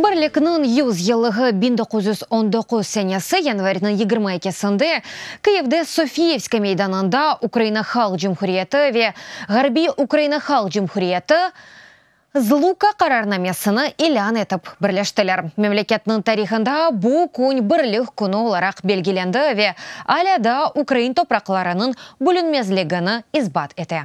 Birlikniñ yüz yıllığı biñ doquz yüz on doquz senesi yanvarniñ yigirma ekisinde Kyivde Sofiyevskiy meydanında Ukraina Halq Cumhuriyeti ve Ğarbiy Ukraina Halq Cumhuriyeti, ZLUKA, qararnamesini ilân etip birleştiler. Memleketniñ tarihında bu kün Birlik künü olaraq belgilendi ve alâ daa ukrain topraqlarınıñ bölünmezligini isbat ete.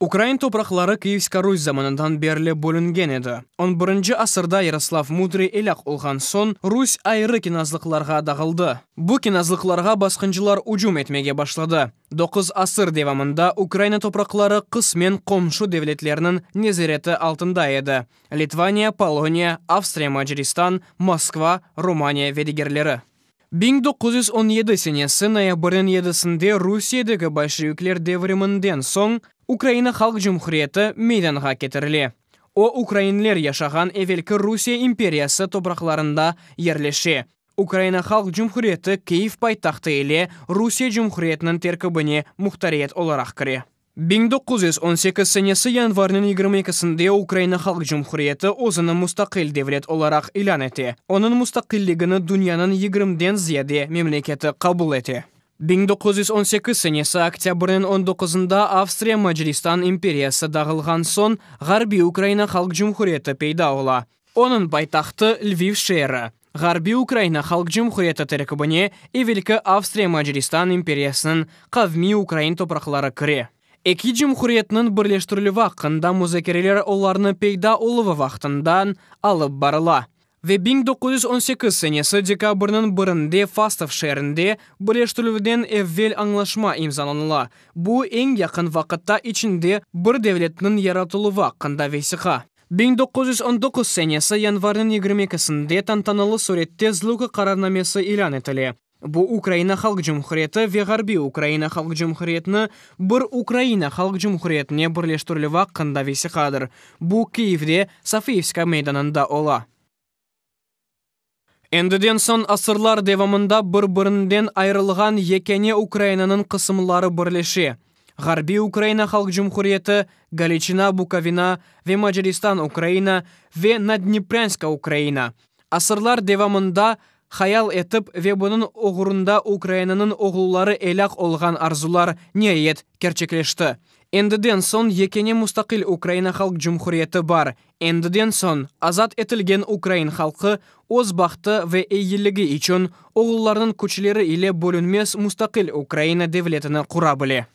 Ukrain topraqları Kiyevska Rus zamanından berli bölüngen edi. On birinci asırda Yaroslav Mudriy elâk olğan soñ, Rus ayrı knâzlıqlarğa dağıldı. Bu knâzlıqlarğa basqıncılar ücüm etmege başladı. Doquz asır devamında Ukraina topraqları qısmen qomşu devletlerniñ nezareti altında edi, Litvaniya, Poloniya, Avstriya-Macaristan, Moskva, Rumaniya ve digerleri. Biñ doquz yüz on yedi senesi noyabrniñ yedisinde Rusiyedeki bolşevikler devriminden soñ Ukraina Halq Cumhuriyeti meydanğa ketirile. O, ukrainler yaşağan evelki Rusiye imperiyası topraqlarında yerleşe. Ukraina Halq Cumhuriyeti Kyiv paytahtı ile Rusiye Cumhuriyetiniñ terkibine muhtariyet olaraq kire. Biñ doquz yüz on sekiz senesi yanvarnıñ yigirmi ekisinde Ukraina Halq Cumhuriyeti özüni mustaqil devlet olaraq ilân ete, onıñ mustaqilligini dünyanıñ yigirmiden ziyade memleketi qabul ete. Biñ doquz yüz on sekiz senesi oktâbrniñ on doquzında Avstriya Macaristan imperiyası dağılğan soñ, Ğarbiy Ukraina Halq Cumhuriyeti peyda ola. Onıñ paytahtı, Lviv şeeri. Ğarbiy Ukraina Halq Cumhuriyeti terkibine evelki Avstriya-Macaristan imperiyasınıñ qavmiy ukrain topraqları kire. Eki cumhuriyetniñ birleştirilüvi aqqında muzakereler olarnıñ peyda oluvı vaqtından alıp barıla ve biñ doquz yüz on sekiz senesi dekabrniñ birinde Fastov şeerinde birleştirilüvden evvel añlaşma imzalanıla, bu eñ yaqın vaqıtta içinde bir devletniñ yaratıluvı aqqında vesiqa. Biñ doquz yüz on doquz senesi yanvarnıñ yigirmi ekisinde tantanalı sürette Zluka qararnamesi ilân etile. Bu Ukraina Halq Cumhuriyeti ve Ğarbiy Ukraina Halq Cumhuriyetini bir Ukraina Halq Cumhuriyetine birleştirilüvi aqqında vesiqadır. Bu Kyivde, Sofiyevska meydanında ola. Endiden soñ asırlar devamında bir-birinden ayırılğan yekâne Ukrainanıñ qısımları birleşe, Ğarbiy Ukraina Halq Cumhuriyeti, Galiçina-Bukovina ve Macaristan-Ukraina ve Naddneprânska-Ukraina. Asırlar devamında hayal etip ve bunıñ oğrunda Ukrainanıñ oğulları elâq olğan arzular, niayet, kerçekleşti. Endiden soñ yekâne mustaqil Ukraina Halq Cumhuriyeti bar, Endiden soñ azat etilgen ukrain halqı öz bahtı ve eyyiligi içün oğullarnıñ küçleri ile bölünmez mustaqil Ukraina devletini qura bile.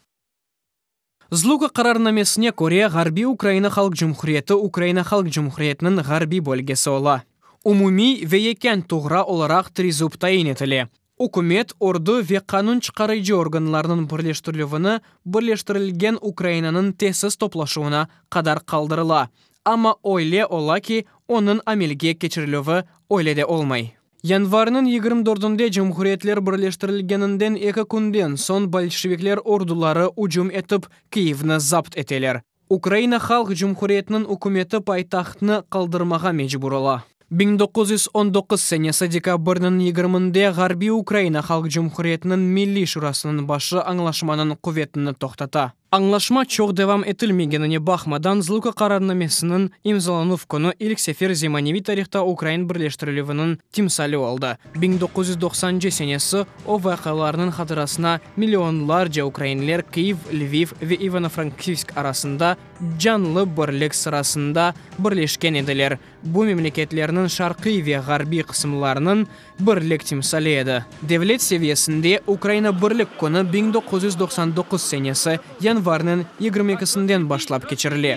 Zluka qararnamesine köre Ğarbiy Ukraina Halq Cumhuriyeti Ukraina Halq Cumhuriyetiniñ ğarbiy bölgesi ola. Umumiy ve yekân tuğra olaraq Trizub tayin etile, Ükümet, ordu ve qanun çıqarıcı organlarnıñ birleştirilüvini Birleştirilgen Ukrainanıñ tezsiz toplaşuvına qadar qaldırıla, amma öyle ola ki, onıñ amelge keçirilüvi öyle de olmay. Yanvarnıñ yigirmi dördünde Cumhuriyetler Birleştirilgeninden eki künden soñ bolşevikler orduları ücüm etip, Kyivni zapt eteler. Ukraina Halq Cumhuriyetiniñ ükümeti paytahtnı qaldırmağa mecbur ola. Biñ doquz yüz on doquz senesi dekabrniñ yigirminde Ğarbiy Ukraina Halq Cumhuriyetiniñ Milliy Şurasınıñ başı añlaşmanıñ quvetini toqtata. Añlaşma çoq devam etilmegenine baqmadan, Zluka qararnamesiniñ imzalanuv künü ilk sefer zemaneviy tarihta ukrain birleştirilüviniñ timsali oldı. Biñ doquz yüz doqsancı senesi o vaqialarnıñ hatırasına millionlarca ukrainler Kıyiv, Lviv ve İvano-Frankivsk arasında canlı birlik sırasında birleşken ediler, bu memleketlerniñ şarqiy ve ğarbiy qısımlarınıñ birlik timsali edi. Devlet seviyesinde Ukraina Birlik künü biñ doquz yüz doqsan doquz senesi yanvarnıñ yigirmi ekisinden başlap keçirile.